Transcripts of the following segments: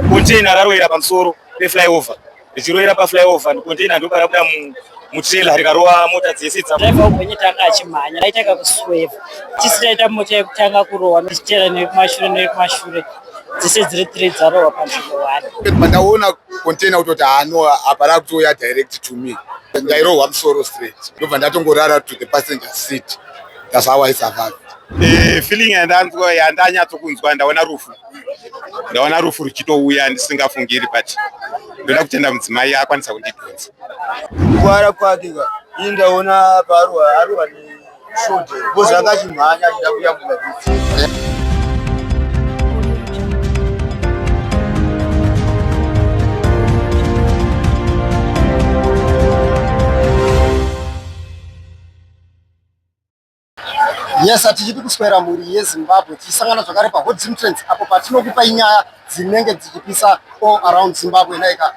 Container raroera pamusoro peflyover richiroera paflyover and container ndopa rabuda mutrailer rikarova mota dzese dzaiva ugwenye tanga achimhanya raitanga kusweva tisi taita mota yekutanga kurohwa tichitera nekumashure nekumashure dzese dziri three dzarohwa panzvimbo one pandaona container kutoti hano apa rakutouya direct to me ndairohwa musoro straight ndobva ndatongorara to the passenger seat that's how i survived eh, feeling yandanzwa yandanyatsokunzwa ndaona rufu ndaona rufu ruchitouya ndisingafungiri but ndoda kutenda mudzimai akwanisa kundidhonza kugwara kwake ka ini ndaona paarwa arwa neshode bcoz akachimhanya achida kuyambura Yes, hatichidi kuswera mhuri yeZimbabwe tichisangana zvakare paHot Zim Trends apo patinokupa inyaya dzinenge dzichipisa all around Zimbabwe naika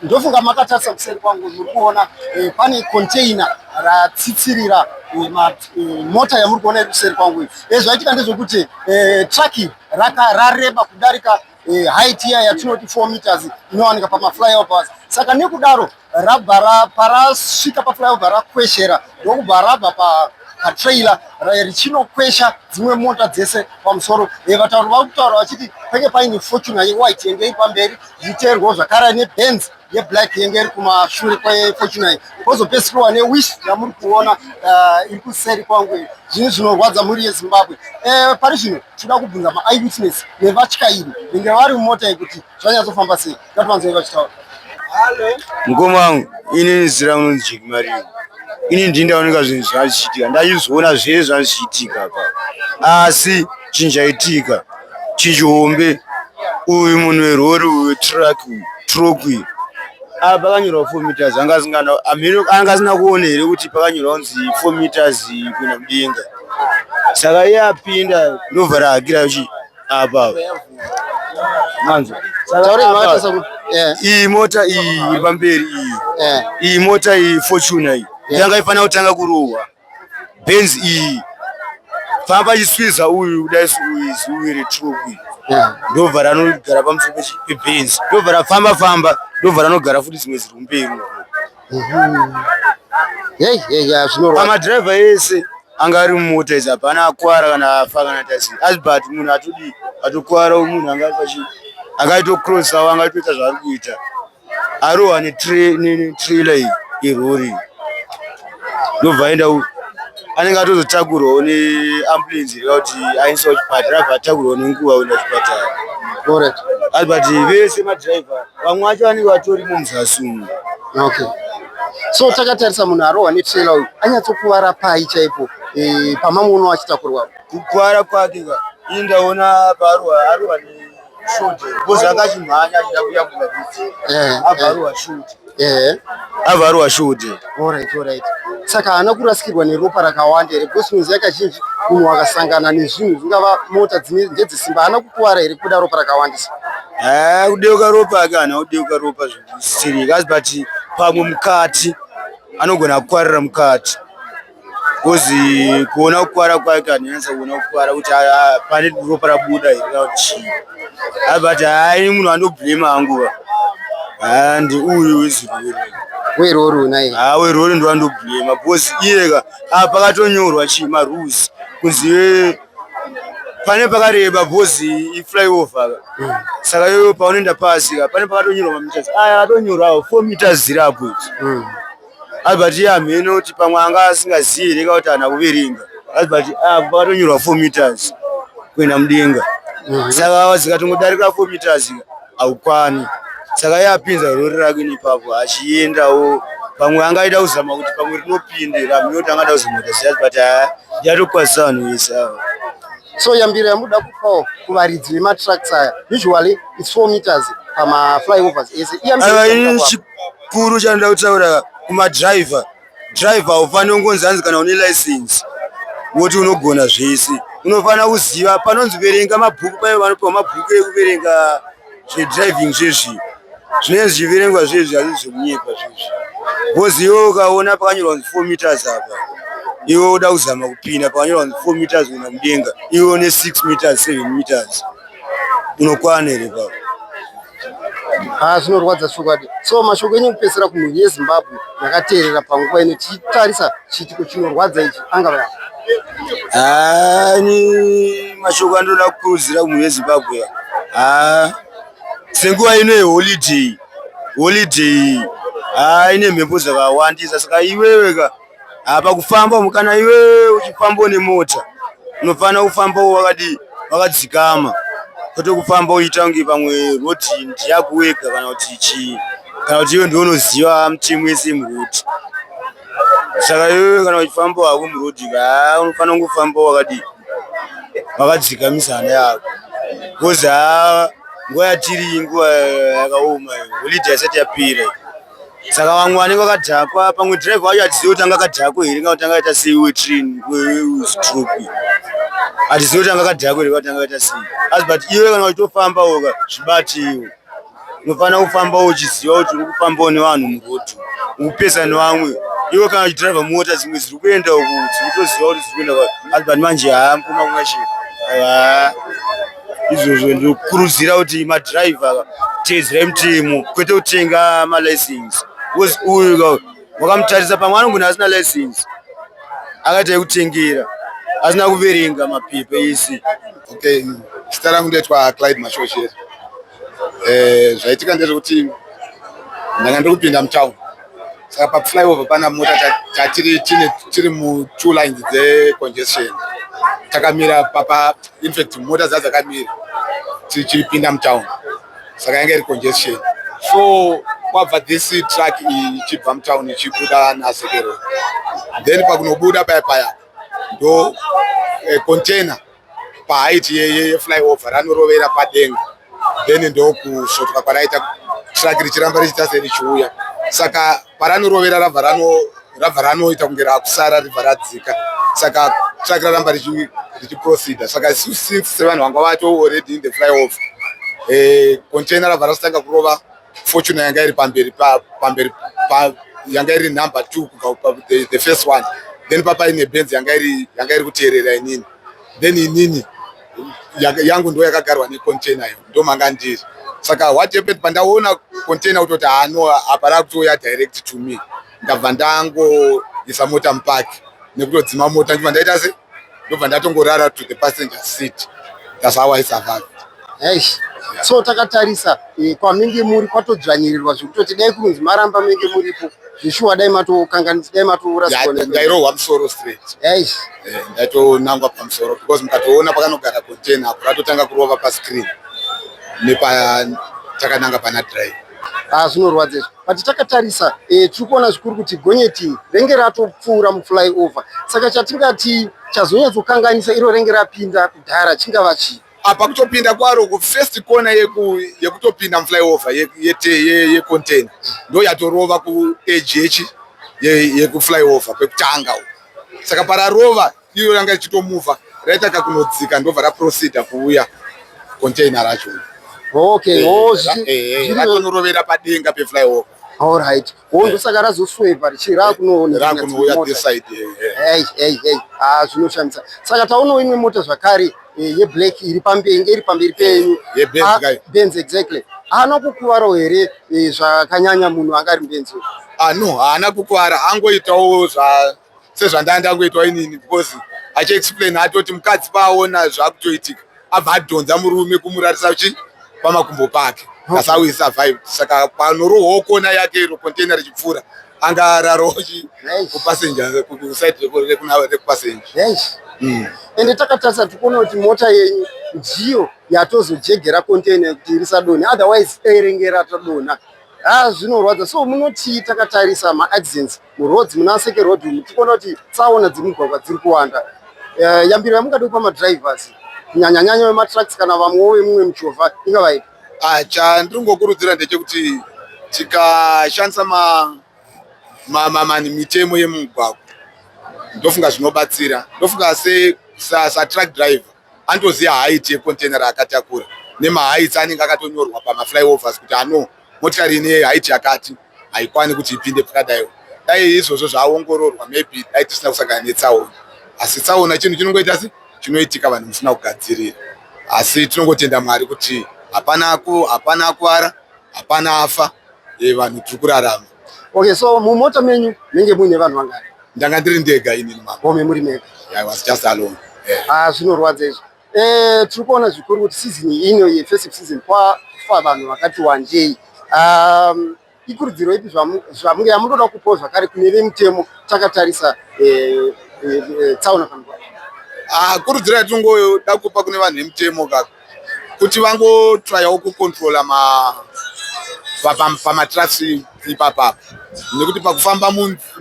ndofunga makatarisa kuseri kwangu muri kuona eh, pane container ratsitsirira eh, eh, mota yamuri kuona iri kuseri kwangu iyi eh, zvaitika ndezvekuti eh, truck raka rareba kudarika eh, height iya yatinoti 4 meters inowanika pamaflyovers saka nekudaro rabva raparasvika paflyovha rakweshera ndokubva rabva pa patrailer richinokwesha dzimwe mota dzese pamusoro eh, vatauri vakutaura vachiti penge paine fortuna yewhite yenge ipamberi zvicherwo zvakara nebenz yeblack yenge iri kumashure kwefortunai kozopesirwa newish yamuri kuona eh, iri kuseri kwangu zvinhu zvinorwadza mhuri yezimbabwe eh, pari zvino tinoda kubvunza maeyewitness nevatyairi venge vari mumota yekuti zvanyatsofamba sei ngativanzoi vachitaura mukoma wangu inini zira unonzi jekimario ini ndii ndaoneka zvinhu zvachiitika ndachizoona zvee zvachiitika pa asi chinhu chaitika chihombe uyu munhu werori uyu truck truck uyu apa pakanyorwa four meters anga asingana amheno anga asina kuona here kuti pakanyorwa kunzi four meters kuenda mudenga saka iye apinda ndobva rahakira kuchi apa manzwa iyi mota iyi iri pamberi iyi iyi mota iyi fortuna iyi yanga ifanira kutanga kurohwa benzi iyi famba chiswiza uyu kudai uwiri truku ndobva ranogara pamusoro pebenzi ndobva rafamba famba ndobva ranogara futi dzimwe ziri kumberi pamadhiraivha ese anga ari mumota idzi hapana akwara kana afa kana tasi asi but munhu atodii atokwara munhu anga ari pachi anga aitocrosawo anga aitoita zvaari kuita arohwa netrailer iyi irori ndobva aenda anenge atozotakurwawo neambulensi reva kuti ainisa kuchipatara abva atakurwawo nenguva kuenda kuchipatara but vese madrive vamwe vacho vanenge vatori mumuzasi umu okay so takatarisa munhu arohwa netrailer uyu anyatsokuvara pai chaipo e, pamamwe uno achitakurwa kukuvara kwake ka ini ndaona paarohwa arohwa avaruwa shudi saka haana kurasikirwa neropa rakawanda here because muziva kazhinji munhu akasangana nezvinhu zvingava mota dzine ndedzesimba haana kukuvara here kubuda ropa rakawandisa eh, kudeuka ropa ake haana kudeuka ropa zvisiri kasi but pamwe mukati anogona kukwarira mukati kozi kuona kukwara kwake anonyanisa kuona kukwara kuti pane ropa rabuda here kana kuti chii abati hayi munhu anoblema hanguva and uyu wezirwere werori unai ha werori ndoandoblema bcause iyeka a pakatonyorwa chii marules kunzi pane pakareba bcause iflyover hmm. saka iyoyo paunoenda pasi ka pane pakatonyorwa mameters aya atonyorwawo four meters zirapo ichi hmm. albert iye hamheno kuti pamwe anga asingazivi here ka kuti ana kuverenga albert apa patonyorwa four meters kuenda mudenga mhm. saka wazikatongodarika four meters haukwani saka iye apinza rori rake nepapo achiendawo pamwe angaita kuzama kuti pamwe rinopinde ramheno kuti angada kuzama kuita ziyati but haa yatokwazisa vanhu vese ava so yambiro yamuda kupawo kuvaridzi vematracks aya usually its four meters pamaflyovers ese chikuru chanoda kutaura kumadriver driver haufanire kungonzi hanzi kana une license woti unogona zvese unofanira kuziva panonzi verenga mabhuku paye vanopiwa mabhuku ekuverenga zvedriving zvezvi zvinenge zvichiverengwa zvezvi hazii zvemunyepa zvezvi bcoz iwe ukaona pakanyorwa kunzi four meters apa iwe uda kuzama kupinda pakanyorwa kunzi four meters kuenda mudenga iwe une six meters seven meters unokwana here papa haa ah, zvinorwadza chokwadi so mashoko enyu kupesera kumhuri yezimbabwe yakateerera panguva ino tichitarisa chiitiko chinorwadza ichi angava haa ah, ni mashoko andoda kukurudzira kumhuri yezimbabwe haa ah, senguva ino yeholiday holiday haa ine mhepo dzakawandisa saka iweweka Ah, pakufamba umu kana iwe uchifamba une mota unofanira kufamba wakadi wakadzikama kwete kufamba uchiita kunge pamwe roti ndiyako wega kana kuti chii kana kuti iwe ndiwe unoziva mutemo wese muroti saka iwe kana uchifamba hako muroti kaa ah, unofanira kungofamba wakadi wakadzikamisa hana yako bcause haa ah, nguva yatiri nguva yakaoma holiday yasati yapira saka vamwe vanenge vakadhakwa pamwe driver wacho hatizivi kuti anga akadhakwa here kana kuti anga aita sei wetrin weustrop hatizivi kuti anga akadhakwa here kana kuti anga aita sei asi but iwe kana wachitofamba oka zvibatiwo unofanira kufamba uchiziva kuti uri kufambawo nevanhu muroad ukupesa nevamwe iwe kana uchidriver mota dzimwe dziri kuenda uku dziri kutoziva kuti dziri kuenda asi but manje haa mukoma kunga chii izvozvo ndinokurudzira kuti madriver teedzera mitemo kwete kutenga malicense bcause uyu wakamutarisa pamwe anongona asina license akaita yekutengera asina kuverenga mapepa ese okay zita rangu ndoitwa clyde mashoshera eh, zvaitika ndezvekuti ndanga ndiri kupinda mutown saka paflyover pana mota tatiri tiri mutwo lines dzecongestion takamira papa infact mota dza dzakamira tichipinda mutown saka yanga iri congestion so kwabva this truck ichibva mutown ichibuda nasekero then pakunobuda paya paya ndo eh, container paheight yeflyover ranorovera padenga then ndokusvotoka kwaraita truck richiramba richiita serichiuya saka paranorovera rabva rano rabva ranoita kunge rakusara ribva radzika saka truck raramba richiproceda saka since sevanhu vanga vatoo already in the flyover eh, container rabva rasitanga kurova Fortune yanga iri pamberi pamberi yanga iri number 2 kubva the, the first one then papa ine benz yanga iri yanga iri kuteerera inini then inini yangu ndo yakagarwa necontainer yo ndo manga ndiri saka what happened pandaona container kutoti hano apa rakutouya direct to me ndabva ndangoisa mota mupark nekutodzima mota ndibva ndaita se ndobva ndatongorara to the passenger seat that's how i survived eish so takatarisa eh, kwaminge muri kwatodzvanyirirwa zvekutoti dai kunzi maramba menge muripo zvishuwa dai matokanganisa dai matourasndairohwa musoro straight eish eh, ndaitonangwa pamusoro because mukatoona pakanogara container apo ratotanga kurova pascreen nepa takananga pana drive Ah, zvinorwadza izvo but takatarisa eh, tiri kuona zvikuru kuti gonyeti renge ratopfuura muflyover saka chatingati chazonyatsokanganisa iro renge rapinda kudhara chingava chii apa kutopinda kwaro kufirst corner yekutopinda yeku muflyover yecontain ye, ye, ye ndo yatorova kuedge yekuflyover kwekutanga saka pararova iyo yanga ichitomuvha raita kakunodzika ndobva raprosida kuuya container racho okay eh, oh, eh, eh, ratonorovera padenga peflyover all right oh, ndosaka razosweva richii rakunoonerakunouya this side ei ei ei ah zvinoshamisa saka taonawo imwe mota zvakare yeblack iri pamberi iri pamberi penyu benz ah, exactly haana kukuvaro here zvakanyanya munhu angari benzi ah no haana kukuvara angoitawo zva sezvandanga ndangoitwa inini because achiexplain atoti mukadzi paaona zvakutoitika abva adhonza murume kumurarisa chi pamakumbo pake that's how he survived saka panorohwawo kona yake iro container richipfuura anga ararawo chi kupassenger kuside rekupassenger yes mm. ende takatarisa tikuona kuti mota yenyu ndiyo yatozojegera container kuti irisadoni otherwise airenge ratodona haa ah, zvinorwadza so munotii takatarisa maaccidents muroads muna seke road umu tikuona kuti tsaona dzemugwagwa dziri kuwanda eh, yambiro yamungadi kupa madrivers kunyanyanyanya vematrucks kana vamwewo vemumwe muchovha ingavaipi ah, chandiri kungokurudzira ndechekuti tikashandisa mamani mitemo yemumugwagwa ndofunga zvinobatsira ndofunga satruck driver andoziva haiti yecontainer raakatakura nemahaits anenge akatonyorwa pamaflyovers kuti ano motikari ine haiti yakati haikwani kuti ipinde pakadaiwo dai izvozvo zvaongororwa maybe dai tisina kusangana netsaona asi tsaona chinhu chinongoita si chinoitika vanhu musina kugadzirira asi tinongotenda mwari kuti hapana hapana akuvara hapana afa e, vanhu tiri kurarama okay so mumota menyu menge muine vanhu vangani ndanga ndiri ndega inini mama muri mega yeah, i was just alone yeah. ah, zvinorwadza izvo Eh, tiri kuona zvikuru kuti season ino yefestive season kwafa vanhu vakati wandei um, ikurudziro ipi zvamunge yamunoda kupawo zvakare kune vemutemo takatarisa eh, eh, eh, tsaona pamikwa ah, kurudziro yatinongoda kupa kune vanhu vemutemo ka kuti vangotrayawo kucontrola pamatrasi ipapapa nekuti pakufamba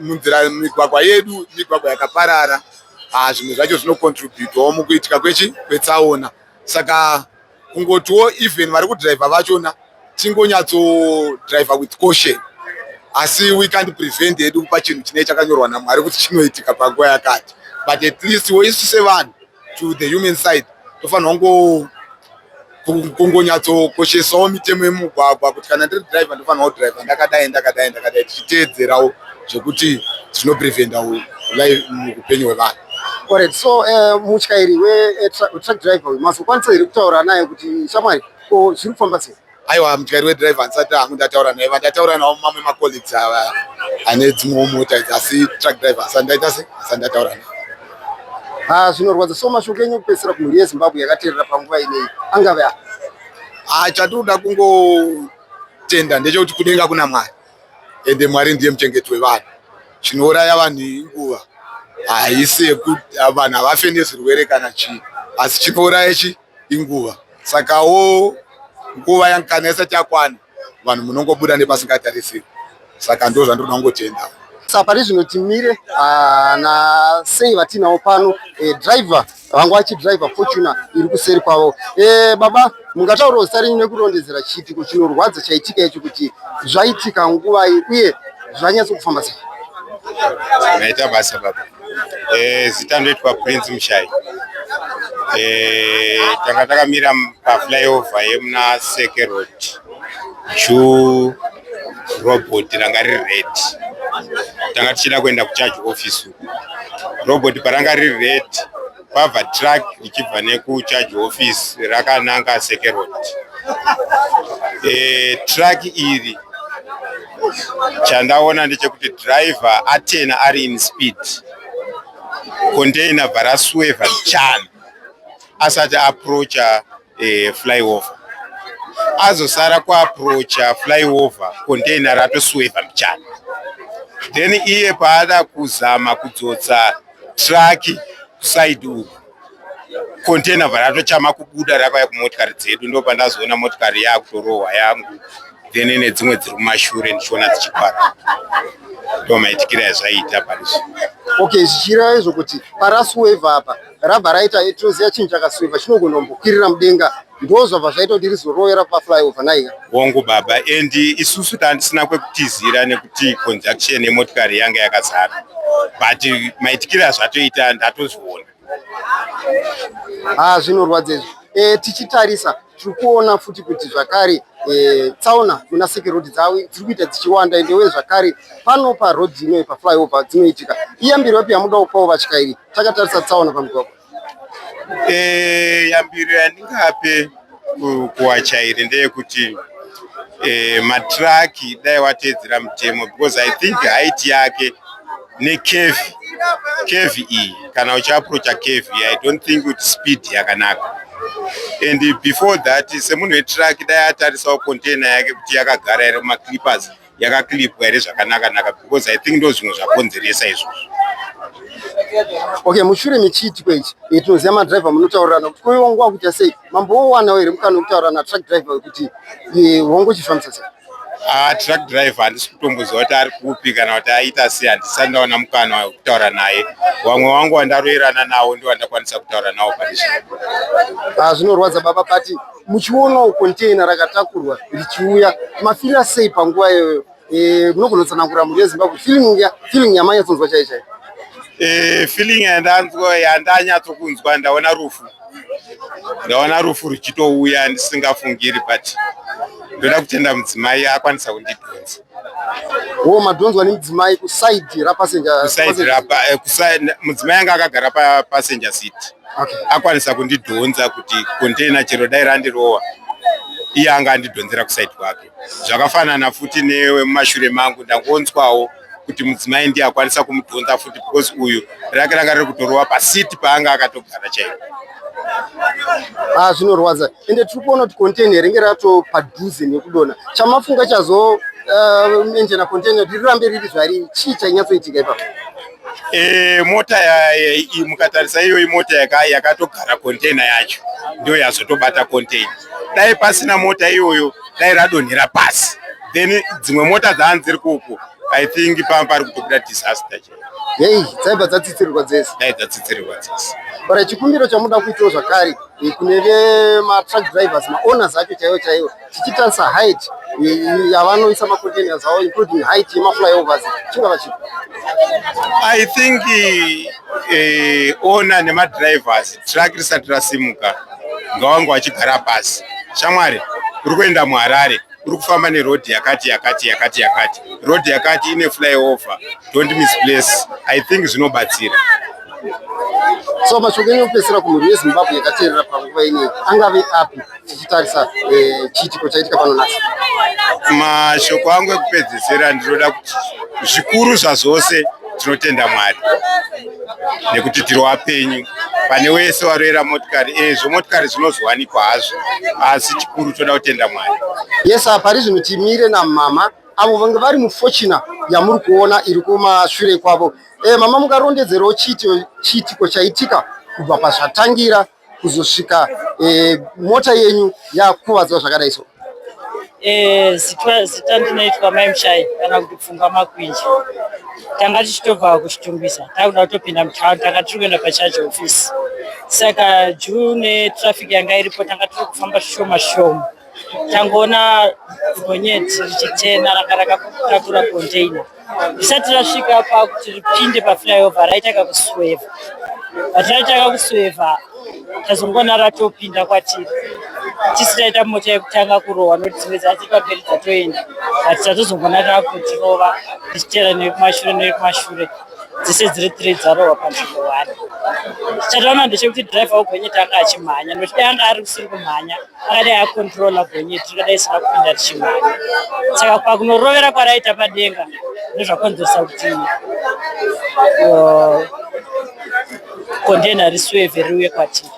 munzira migwagwa yedu migwagwa yakaparara ah, zvimwe zvacho zvinocontributawo mukuitika kwechi kwetsaona saka kungotiwo even vari kudriver vachona tingonyatsodraiver with caution asi we can't prevent hedu kupa chinhu chinee chakanyorwa namwari kuti chinoitika panguva yakati but at least wo isu sevanhu to the human side tofanirwa ngo kungonyatsokosheswawo mitemo yemugwagwa kuti kana ndiri driver ndofanirwa kudriver ndakadai ndakadai ndakadai tichiteedzerawo zvekuti zvinopreventawo live muupenyu hwevanhu Alright, so uh, mutyairi wetrack eh, driver uyu mazokwanisa here kutaura naye kuti shamwari ko zviri kufamba sei Aiwa mutyari wedriver handisati hangu ndataura naye vandataura navo mamwe macolleagues ava ane dzimwewo mota idzi asi truck driver handisati ndaita se handisati ndataura naye ha ah, zvinorwadza so mashoko enyu kupedzisira kumhuri yezimbabwe yakateerera panguva inei angave a ah, chatinoda kungotenda ndechekuti kudenga kuna mwari ende mwari ndiye muchengeti wevanhu chinouraya vanhu inguva haisi yekuti vanhu havafe nezvirwere kana chii asi chinouraya chii inguva sakawo nguva yankana isati yakwana vanhu munongobuda nepasingatarisiri saka ndo zvandoda kungotenda sa pari zvino timire ah, na sei vatinawo pano eh, driver vangu vachidriver fortuna iri kuseri kwavo eh, baba mungataurawo zita renyu nekurondedzera chiitiko chinorwadza chaitika icho kuti zvaitika nguvai uye zvanyatso kufamba sei maita basa baba Eh, zita ndoitwa Prince Mushai. Eh, tanga takamira pa flyover yemuna Seke Road. Ju robot ranga riri red. Tanga tichida kuenda kucharge office. Robot paranga riri red Kwabva truck ichibva nekucharge office rakananga sekerod e, eh, truck iri chandaona ndechekuti driver atena ari in speed container bva rasueva mchana asati aproacha eh, flyover azosara kuaproacha flyover container ratosweva mbichana then iye paada kuzama kudzotsa traki side uku container varatochama kubuda rakauya kumotikari dzedu ndo pandazoona motikari yakutorohwa yangu then nedzimwe dziri kumashure ndichiona dzichikwara ndomaitikira yazvaiita parizvo okay zvichireva izvo kuti parasuweva apa rabva raita ituzi yachinhu chakaswiva chinogona kumbokwirira mudenga ndozvabva zvaita kuti rizoroyera paflyover naika hongu baba and isusu tandisina kwekutizira nekuti conjunction yemotikari yanga yakazara but maitikiro azvatoita ndatozviona ha ah, zvinorwadza izvi e, tichitarisa tiri kuona futi kuti zvakare e, tsaona muna seke road dzavo dziri kuita dzichiwanda ende uye zvakare pano paroad inoyi paflyover dzinoitika iyambiro yapi yamuda kupawo vatyairi takatarisa tsaona pamugwagwa e, yambiro yandingape kuvatyairi ndeyekuti e, matraki dai wateedzera mutemo because i think haiti yake nekevi kevi iyi kana uchiaprocha kevi i don't think kuti speed yakanaka and before that semunhu wetruck dai atarisawo container yake kuti yakagara here mumaclippers yakaclipwa here zvakanakanaka because i think ndo zvimwe zvakonzeresa izvozvo okay mushure mechiitiko ichi tinoziva madriver munotaurirana kuti koiwa nguva kuita sei mamboowanawo here mukana wekutaurirana truck driver wekuti hongo chifambisa sei Ah, truck driver handisi kutomboziva kuti ari kupi kana kuti aita sei handisati ndaona mukana wekutaura naye vamwe wangu wandaroerana nawo ndo vandakwanisa kutaura nawo paizvi ah, zvinorwadza baba pati muchionawo container rakatakurwa richiuya mafira sei panguva iyoyo eh, munogona kutsanangura mhuri yezimbabwe feeling yamanyatsonzwa chai chai eh, feeling yandanzwa yandanyatsokunzwa ndaona rufu ndaona rufu ruchitouya ndisingafungiri but ndoda kutenda mudzimai akwanisa kundidhonza wo madhonzwa nemudzimai kusaidi rapasenjamudzimai anga akagara papasenja city akwanisa kundidhonza kuti containa chero dai randirowa iye anga andidhonzera kusaidi kwake zvakafanana futi newe mumashure mangu ndangonzwawo kuti mudzimai ndiye akwanisa kumudhonza futi because uyu rake ranga riri kutorova pasiti paanga akatogara chaipo ah, zvinorwadza ende tiri kuona kuti container ringe rato padhuze nekudona chamafunga chazo uh, enjena container riri rambe riri zvariri chii chainyatsoitika ipapo Eh, mota mukatarisa iyoyi mota yakatogara container yacho ndiyo yazotobata container dai pasina mota iyoyo dai radonhera pasi then dzimwe mota dzaani dziri kuku i think pamba pari kutobuda disaster chaiyo hei dzaibva dzatsitsirirwa dzese dai dzatsitsirirwa dzese bara chikumbiro chamuda kuitawo zvakare eh, kune vematruck drivers maowners acho chaiwo chaiwo tichitarisa height eh, yavanoisa macontainers avo including height yemaflyovers chingava chipo i think eh, owner nemadrivers truck risati rasimuka ngawangu achigara pasi shamwari uri kuenda muharare uri kufamba nerodhi yakati yakati yakati yakati rodhi yakati ine flyover don't misplace i think zvinobatsira so mashoko enyu okupedzisira kumhuri yezimbabwe yakateerera panguva inei angave api tichitarisa eh, chiitiko chaitika pano nhasi mashoko angu ekupedzisira ndinoda kuti zvikuru zvazvose so, tinotenda mwari nekuti tiri wapenyu pane wese waroera motikari ezvo eh, motikari zvinozowanikwa hazvo asi chikuru toda kutenda mwari yes pari zvino timire namama avo vange vari mufochina yamuri kuona iri kumashure kwavo e, mama mukarondedzerawo chiitiko chaitika kubva pazvatangira kuzosvika e, mota yenyu yakuvadzwa zvakadai so eh, zita zita ndinoitwa mai mushai kana kuti pfungwa makwinji tanga tichitobva kuchitungwisa takuda kutopinda mutown tanga tiri kuenda pacharge office saka june traffic yanga iripo tanga tiri kufamba zvishoma shoma tangoona gonyeti richichena ranga rakatatura container risati rasvika pakuti ripinde paflyover raitanga kusweva but raitanga kusweva tazongoona ratopinda kwatiri tisi taita mota yekutanga kurohwa nokuti dzimwe dzati pamberi dzatoenda but tatozongoona tava kutirova tichitera nekumashure nekumashure dzese dziri three dzarohwa panzvimbo one chataona ndechekuti driver wegonyeti anga achimhanya nokuti dai anga ari kusiri kumhanya akadai akontrola gonyeti rikadai isina kupinda richimhanya saka pakunorovera kwaraita padenga ndozvakonzeresa kuti kondena uh, risweve riuye kwatiri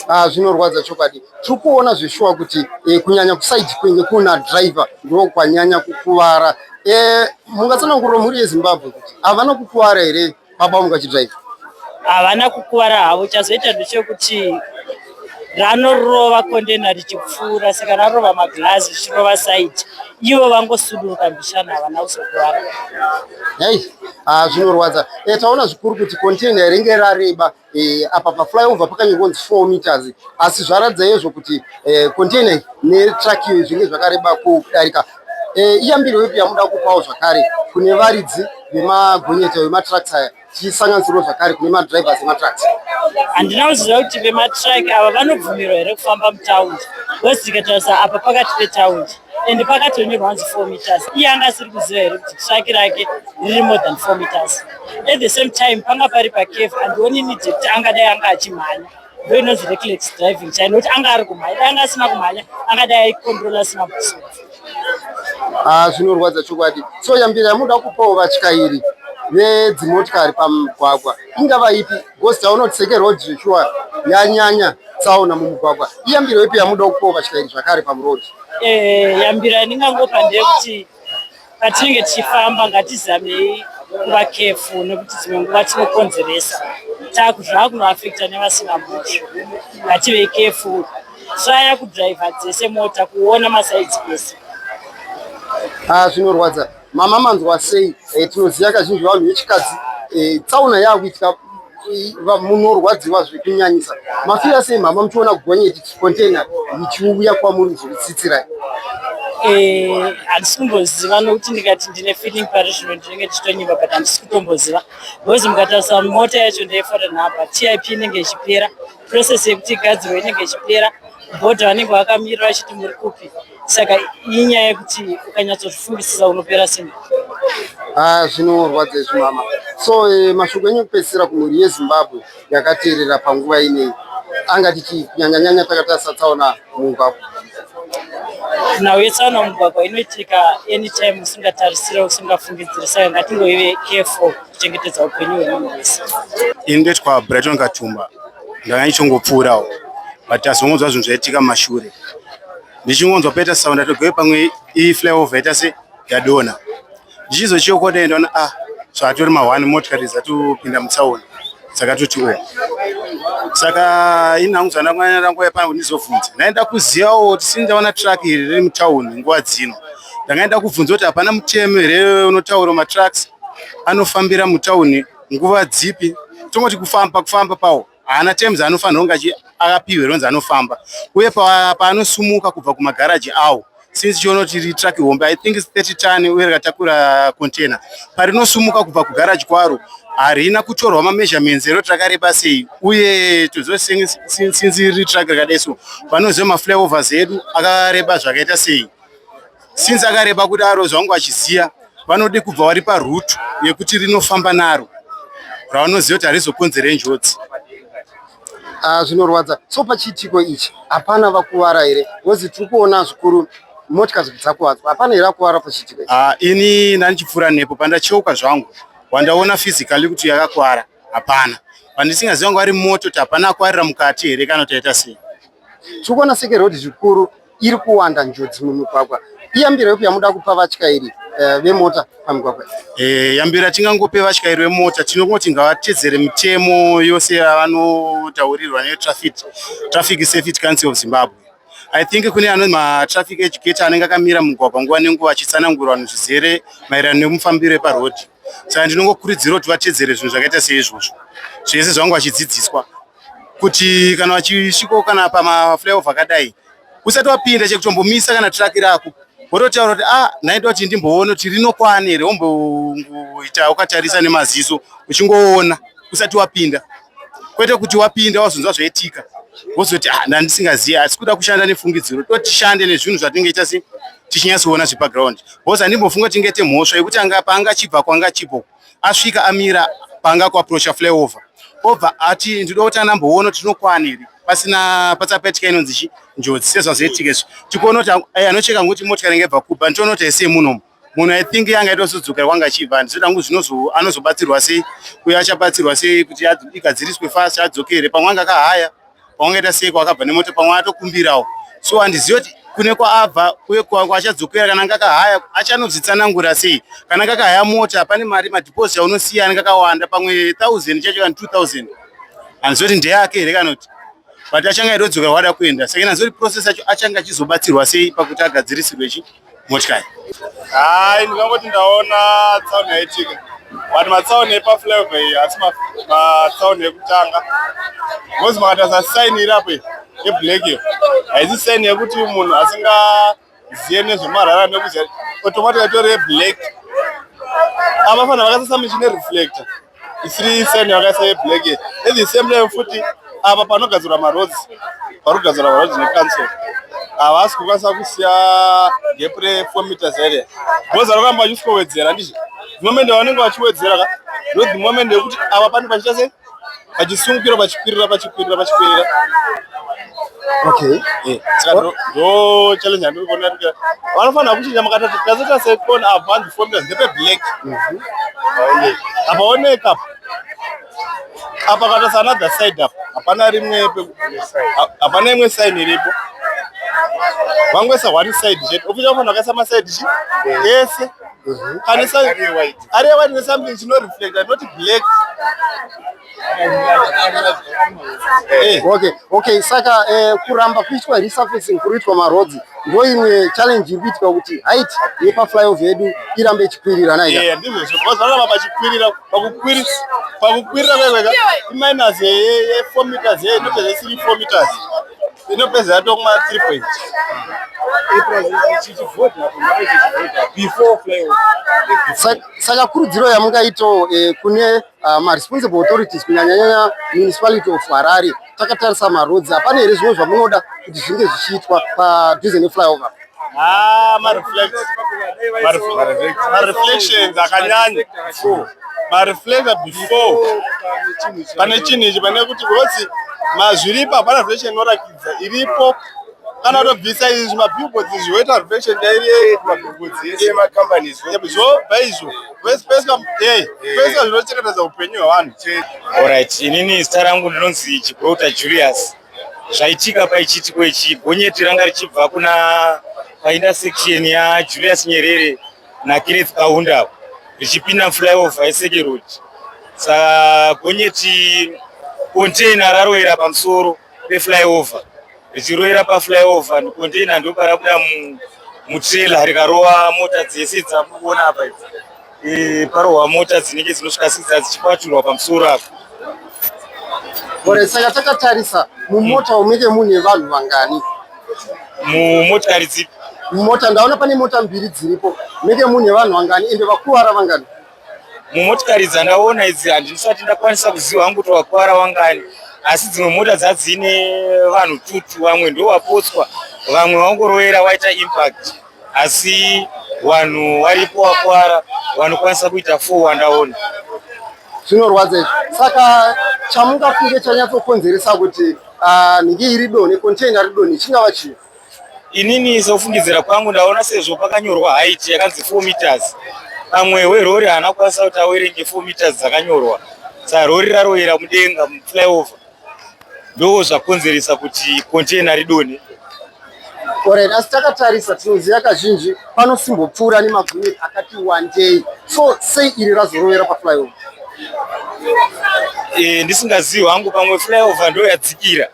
ah, zvinorwadza chokwadi tiri kuona zveshuwa kuti eh, kunyanya kusaidi kwenge kuna driver ndokwanyanya kukuvara eh, mungatsanangurira mhuri yezimbabwe kuti havana kukuvara here baba vangu vachidrive havana kukuvara havo chazoita ndechekuti ranorova kondena richipfuura saka rarova maglazi richirova saiti ivo vangosuduruka mbishana havana kuzokuvara ei ah, zvinorwadza e taona zvikuru kuti kontena ringe rareba Eh, apa paflyover pakange konzi four meters asi zvaratidza yezvo kuti eh, container netruck zvinge zvakareba kudarika eh, iyambiro yepi yamuda kupawo zvakare kune varidzi vemagonyeta vematrucks aya tichisanganisirwa zvakare kune madrivers ematrucks handina kuziva kuti vematruck ava vanobvumirwa here kufamba mutaundi wes tikatarisa apa pakati petaundi and pakatonyorwa hanzi four meters iye anga asiri kuziva here kuti traki rake riri more than four meters at the same time panga pari pacave handioni nidi kuti angadai anga achimhanya ndo inonzi reclex driving chai nokuti anga ari kumhanya dai anga asina kumhanya angadai aikontrola asina buso ah, zvinorwadza chokwadi so yambira yamuda kupawo vatyairi vedzimotikari pamugwagwa ingava ipi Because taona kuti seke road zveshuwa yanyanya tsaona mumugwagwa. Iyambiro ipi yamuda kupawo vatyairi zvakare pamuroad? Eh, yambiro yandingangopa ndeyekuti patinenge tichifamba ngatizamei kuva kefu nekuti dzimwe nguva tinokonzeresa taku zvava kunoafekta nevasina mhosva ngativei kefu traya kudhiraivha dzese mota kuona masaidzi ese ah, zvinorwadza Mama manzwa sei? E, tinoziva kazhinji vanhu vechikadzi e, tsaona yakuitika munorwadziwa zvekunyanyisa mafira sei mama muchiona gonyeti container ichiuya kwamuri zvekutsitsirai Eh, handisi kumboziva nokuti ndikati ndine feeling pari zvino ndinenge ndichitonyiva but handisi kutomboziva because mukatarisa mota yacho ndeyefore now but tip inenge ichipera process yekuti igadzirwe inenge ichipera bhodha vanenge vakamirira vachiti muri kupi saka inyaya yekuti ukanyatsozvifungisisa unopera simba ah, zvinorwadza izvi mama so eh, mashoko enyu kupedzisira kumhuri yezimbabwe yakateerera panguva inei anga tichii kunyanyanyanya takatarisa tsaona mumugwagwa nhau yetsaona mumugwagwa inoitika anytime usingatarisire usingafungidziri saka ngatingoive careful kuchengetedza upenyu hwemunhu wese ini ndoitwa brighton katumba ndanga ndichongopfuurawo but azongonzwa zvinhu zvaitika mashure ndichingonzwa paita sound atogove pamwe iyi flyover yaita se yadona ndichizochiokota endaona ah so atori mahwani motikari dzatopinda mutsaona dzakatoti o saka ini hangu zvandangoyanarangwaya pangu ndizobvunza ndaenda kuzivawo tisini ndaona truck iri riri mutauni nguva dzino ndangaenda kubvunza kuti hapana mutemo here unotaura matrucks anofambira mutauni nguva dzipi tongoti kufamba kufamba pawo haana terms anofanira kunge akapihwe ronzi anofamba uye paanosumuka kubva kumagaraji awo since chiona kuti ritruck hombe i think 30 tani uye rakatakura container parinosumuka kubva kugaraji kwaro harina kutorwa mameasurements ero rakareba sei uye toziva since ritruck rakadai so vanoziva maflyovers edu akareba zvakaita sei since akareba kuti aro zvangu achiziya vanode kubva vari parutu yekuti rinofamba naro ravanoziva kuti harizokonzera njodzi ah, zvinorwadza so pachiitiko ichi hapana vakuvara here bcause tiri kuona zvikuru motya dzakuvadzwa hapana here akuvara pachiitiko ah, ini ndandichipfuura nepo pandacheuka zvangu wandaona physically kuti yakakuvara hapana pandisingaziva ngo ari moto kuti hapana akwarira mukati here kana taita sei tiri kuona seke rhodhi zvikuru iri kuwanda njodzi mumigwagwa iyambiro yepi yamuda kupa vatyairi eh, vemota pamigwagwa eh, yambiro yatingangope vatyairi vemota tinongoti ngavatedzere mitemo yose yavanotaurirwa netraffic traffic safety council of zimbabwe i think kune ano matraffic educator anenge akamira mugwagwa nguva nenguva achitsanangura vanhu zvizere maererano nemufambiro eparhodhi saka ndinongokurudzira kuti vatedzere zvinhu zvakaita seizvozvo zvese zvavanga vachidzidziswa kuti kana vachisviko kana pamaflyover akadai usati wapinda chekutombomisa kana traki rako wototaura kuti ah ndaida kuti ndimboona kuti rinokwana here womboita ukatarisa nemaziso uchingoona usati wapinda kwete kuti wapinda wazonzwa zvaitika wozoti ah ndandisingazivi asi kuda kushanda nefungidziro totishande nezvinhu zvatinenge ita se tichinyatsoona zvepaground bcause handimbofunga kuti ingete mhosva yekuti anga paanga chibva kwanga chibvo asvika amira panga kuaprocha flyover obva ati ndida kuti anamboona kuti tinokwana here pasina patsapaitika inonzi chi njodzi sezvazoitika izvi tikuona kuti eh, anocheka ngokuti motikari inge ibva kubva nditoona kuti haisiye munhu munhu aithink yanga itozodzokera kwanga achibva ndizoda ngu zvinozo anozobatsirwa sei uye achabatsirwa sei kuti igadziriswe fast adzokere pamwe anga akahaya kwaungaita sei kwakabva nemota pamwe atokumbirawo so handizivi kuti kune kwaabva uye kwachadzokera kana ngakahaya achanozvitsanangura sei kana ngakahaya mota pane mari madhiposit aunosiya anenge akawanda pamwe thousand chacho kana two thousand handizivi kuti ndeyake here kana kuti but achange aitodzokera wada kuenda saka handizivi kuti process yacho achange achizobatsirwa sei pakuti agadzirisirwe chii motikari hai ndikangoti ndaona tsaona yaitika but matsaona epaflava iyi asi matsaona ekutanga bcause makatarisa saini iri apo yeblack iyo haisi saini yekuti munhu asingazive nezvemarara nekuziva automatic atore yeblack avafanira vakasasa michine reflector isiri same yakaisa yeblack at the same time futi apa panogadzirwa maroads pari kugadzirwa maroads necouncil havasi kukwanisa kusiya gap refour meters area bhoza rokamba vachiswowedzera ndizvo dhimomende vanenge vachiwedzera ka ndo dhimomende yekuti apa pane pachiita se pachisungukira pachikwirira pachikwirira pachikwirira Okay. Eh, saka ndo ndo challenge yandiri kuona kuti vanofanira kuchinja makatatu tazoita second advance formula ndepe black. Aone. Apaoneka apa. Apa kata sana the side apa. Hapana rimwe pe ha- hapana imwe sign iripo. Vangoisa one side chete. Official vanhu vakaisa ma side chi ese. Kana isa Ari white. ari white ne something chino reflector not black. Eh, okay okay saka eh, kuramba kuitwa resurfacing kuruitwa marodzi ndo imwe challenge iri kuitika kuti height yepaflyover yedu irambe ichikwirira naizvozvozvaramba pachikwirira pakukwirira kwekweka iminus ye4 meters ye inopedza isiri 4 meters inopedza yatokuma 3 point saka kurudziro yamungaito eh, kune uh, maresponsible authorities kunyanyanyanya municipality of harare takatarisa maroads hapana here zvimwe zvamunoda kuti zvinge zvichiitwa padhuze neflyover ah, mareflections akanyanya mareflector before pane chinhu ichi pane kuti rosi mazviripo hapana reflection inorakidza iripo kana tobvisa izvi mabillboards izvi woita reflection chairiyeyo mabillboards ese emacompanies zvo bva izvo Pese pese kam- eh, Eh. pese zvinochengetedza upenyu hwevanhu chete. Alright, inini zita rangu ndinonzi Chigrouta Julius. Zvaitika paichiitiko ichi gonyeti ranga richibva kuna paintersection ya Julius Nyerere na Kenneth Kaunda richipinda flyover yeSeke Road. Sa gonyeti container rarowera pamusoro peflyover richiroira paflyover container ndoparabuda mutrailer rikarova mota dzese dzamukuona apa idzi e, parohwa mota dzinenge dzinosvika sidza dzichikwaturwa pamusoro apo ore saka takatarisa mumota umenge mune vanhu vangani mumotikari dzipi mumota ndaona pane mota mbiri dziripo menge mune vanhu vangani ende vakuvara vangani mumotikari dzandaona idzi handisati ndakwanisa kuziva hangu kuti wakwara wangani asi dzimwe mota dzadzine vanhu tutu vamwe ndovapotswa vamwe vangorovera waita impact asi vanhu varipo vakwara vanokwanisa kuita four wandaona zvinorwadza izvi saka chamungafunge chanyatsokonzeresa kuti ah, nhingi iri donhe container ridonhe chingava chii Inini sokufungidzira kwangu ndaona sezvo pakanyorwa height yakanzi 4 meters pamwe werori haana kukwanisa kuti awerenge 4 meters dzakanyorwa sa rori raroyera mudenga muflyover ndoo zvakonzeresa kuti container ridone Alright, asi takatarisa tinoziva kazhinji panosimbopfuura nemagonyeti akati wandei so sei iri razorovera paflyover e, ndisingazivi hangu pamwe flyover ndoyadzikira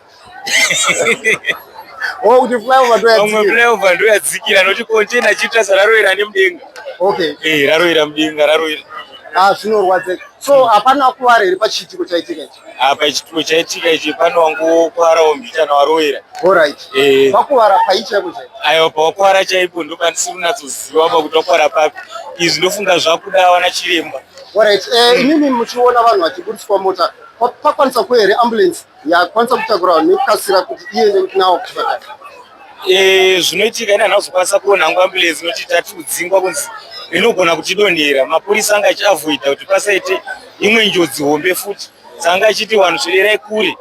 oh kuti flyover to yadzikira pamwe flyover ndo yadzikira noti container chita sararoira nemudenga okay eh raroira mudenga raroira ah zvinorwadza so hapana mm. kuwara here pachiitiko chaitika ichi apa chitiko chaitika ichi pane wangokwarawo mbichana waroera orit eh. pakuwara pai chaiko chai aiwa pawakwara chaipo ndokandisiri kunatsoziva pa kuti wakwara papi izvi ndofunga zvakuda wana chiremba orit eh, mm. inini muchiona vanhu vachiburitswa mota pakwanisa kuhere ambulance yakwanisa kutakura vanhu nekukasira kuti iende kuti nawo kuchipatara eh, zvinoitika ini hanazokwanisa kuona hangu ambulensi inoti tati kudzingwa kunzi inogona kutidonhera mapurisa anga achiavoida kuti pasaite imwe njodzi hombe futi saanga achiti vanhu zvirerai kure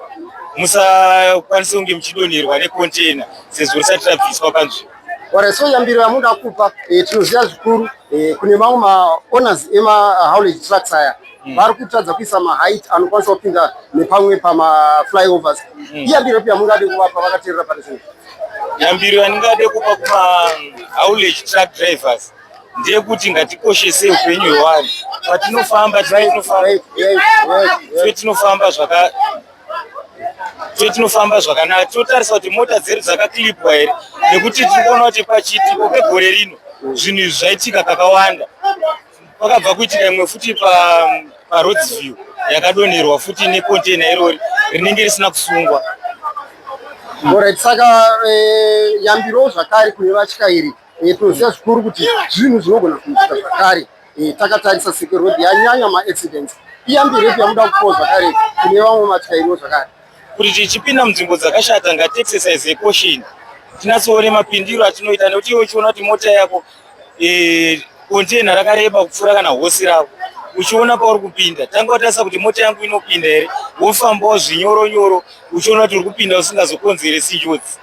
musakwanise kunge muchidonherwa nekontena sezvo risati rabviswa panzvimbo Ora so yambiro yamuda kupa eh, tinoziva zvikuru eh, kune mamwe maowners emahaulage eh, trucks aya mm. vari kutadza kuisa maheight anokwanisa kupinda nepamwe pamaflyovers mm. iyambiro ipi yamungade kuvapa vakateerera pane zvinhu yambiro yandingade kupa kumahaulage truck drivers ndeyekuti ngatikoshese upenyu hwevanhu patinofamba tinofamba zvakanaka so tinofamba zvakanaka tinotarisa kuti mota dzedu dzakaklipwa here nekuti tiri kuona kuti pachitiko pegore rino zvinhu izvi zvaitika kakawanda pakabva kuitika imwe futi paroads view yakadonerwa futi necontaina irori rinenge risina kusungwa orit saka eh, yambiro zvakare kune vatyairi E, tinoziva zvikuru kuti zvinhu zvinogona kuitika zvakare e, takatarisa seke road yanyanya maaccidents iyambirepi yamuda kupoa zvakare kune vamwe matyairo zvakare kuti tichipinda munzvimbo dzakashata ngatiexercise caution tinatsoone mapindiro atinoita nekuti iwe uchiona kuti mota yako e, kontena rakareba kupfuura kana hosi rako uchiona pauri kupinda tanga watarisa kuti mota yangu inopinda here wofambawo zvinyoro nyoro uchiona kuti uri kupinda usingazokonzeresi njodzi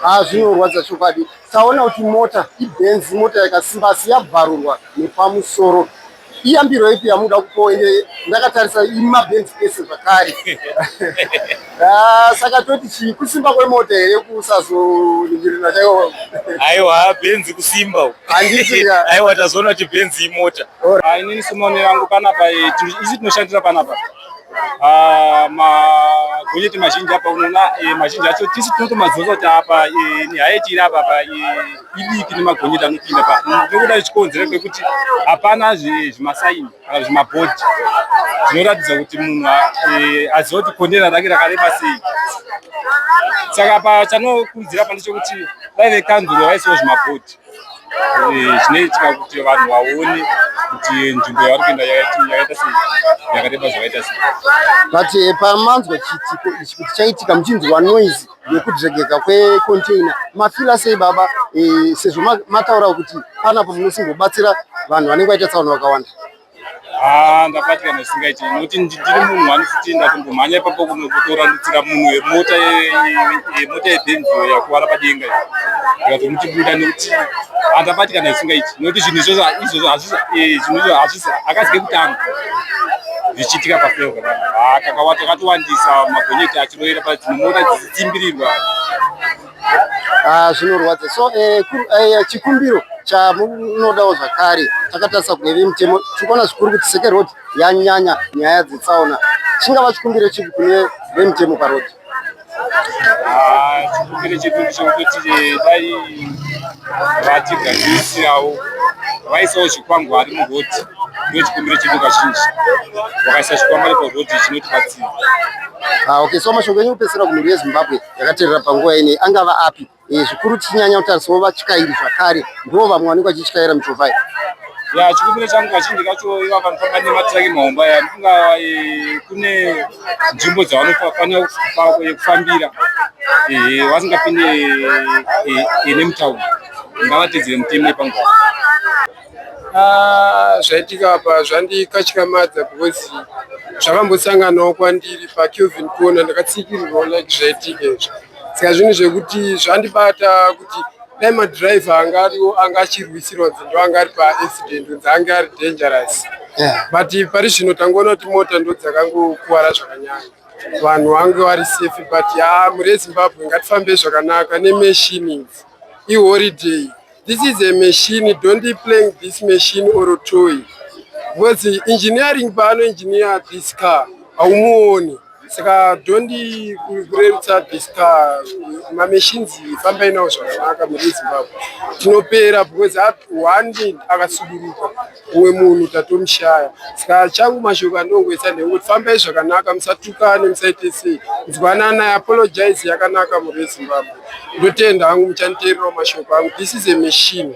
a ah, zvinorwadza chokwadi Taona kuti mota iBenz mota yakasimba asi yabvarurwa nepamusoro. Iyambiro ipi yamuda kupo ende ndakatarisa imaBenz ese zvakare. Ah, saka toti chii kusimba kwemota here kusazoningirira chaiwo? Aiwa Benz kusimba uku. Handiti ka. Aiwa tazoona kuti Benz imota. Ah, inini semone yangu panapa eh, tiri- isi tinoshandira panapa Ah, magonyeti mazhinji apa unoona eh, mazhinji acho tisi tinotomazosa kuti apa eh, nihaiti iri apa pa eh, idiki nemagonyeti anopinda pa mm, ndokuda zvichikonzera kwekuti hapana zvimasaini kana zvimabhodhi zvinoratidza kuti munhu aziva kuti kondera rake rakareba sei saka pa chanokurudzira pa ndechekuti dai vekanzuro vaisawo zvimabhodhi eh, zvinoitika kuti vanhu vaone kuti nzvimbo yavari kuenda yakaita sei yakareba zvakaita sei but eh, pamanzwa chiitiko ichi kuti chaitika muchinzwa noise yekudregeka kwecontainer mafila sei baba eh, sezvo mataura kuti panapo munosimbobatsira vanhu vanenge vaita tsaona vakawanda Ah, ndapatikana zvisingaiti nokuti ndiri munhu wanotitinda kundomhanya ipapo kunotorandutsira munhu yemota yemota yebhenziyo yakuvara padenga ndikatomuchibuda nokuti andapatikana zvisingaiti nokuti zvinhu izvozvo izvozvo eh, zvinhu izvozvo hazvisi akazike kutanga zvichiitika pafeo kavanhu ah, kakawata katowandisa magonyeti achiroera padzimwe mota dzichitimbirirwa Ah, zvinorwadza so eh, eh, chikumbiro chamunodawo zvakare takatarisa kunge vemutemo tiri kuona zvikuru kuti seke road yanyanya nyaya dzetsaona chingava chikumbiro chipi kune vemutemo paroad ah, chikumbiro chedu ndechekuti eh, dai vatigadzirisirawo vaisawo zvikwangwari muroti ndiyo chikumbiro chedu kazhinji vakaisa zvikwangwari paroti chinotibatsira ah, okay so mashoko enyu kupesera kumhuri yezimbabwe yakaterera panguva inei angava api eh, zvikuru tichinyanya kutarisawo vatyairi zvakare ndivo vamwe vanenge vachityaira michovha iyi ya chikumbiro changu kazhinji kacho iva vanofamba nematiraki mahomba ya ndifunga eh, kune nzvimbo dzavanofanira eh, kufambira vasingapinde nemutauni ngavatedzere mutemo yepanguva Ah, zvaitika apa zvandikatyamadza because zvakambosanganawo kwandiri pakelvin corner ndakatsikirirwawo like zvaitika izvo saka zvinhu zvekuti zvandibata kuti dai madriver anga ariwo anga achirwisirwa dzindo anga ari paaccident unzi ange ari dangerous but pari zvino tangoona kuti mota ndo dzakangokuvara zvakanyanya vanhu vange vari safe but ya mure zimbabwe ngatifambe zvakanaka nemachine idzi i holiday this is a machine don't be playing this machine or toy because engineering paano engineer this car haumuoni saka don't kurerutsa this car mamachines fambai nawo zvakanaka mune zimbabwe tinopera because one day akasuduruka umwe munhu tatomushaya ska changu mashoko andongoisa ndekuti fambai zvakanaka musatukane musaite sei nzwanana apologize yakanaka mhuri yezimbabwe ndotenda hangu muchanditeererawo mashoko angu this is a machine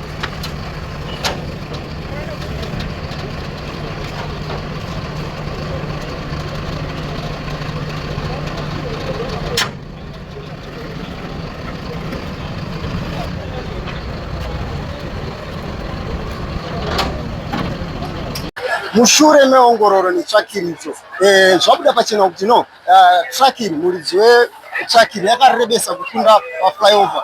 mushure meongororo netsvakiridzo eh, zvabuda pachena kuti no eh, tsvakiri muridzi wetsvakiri yakarebesa kukunda paflyover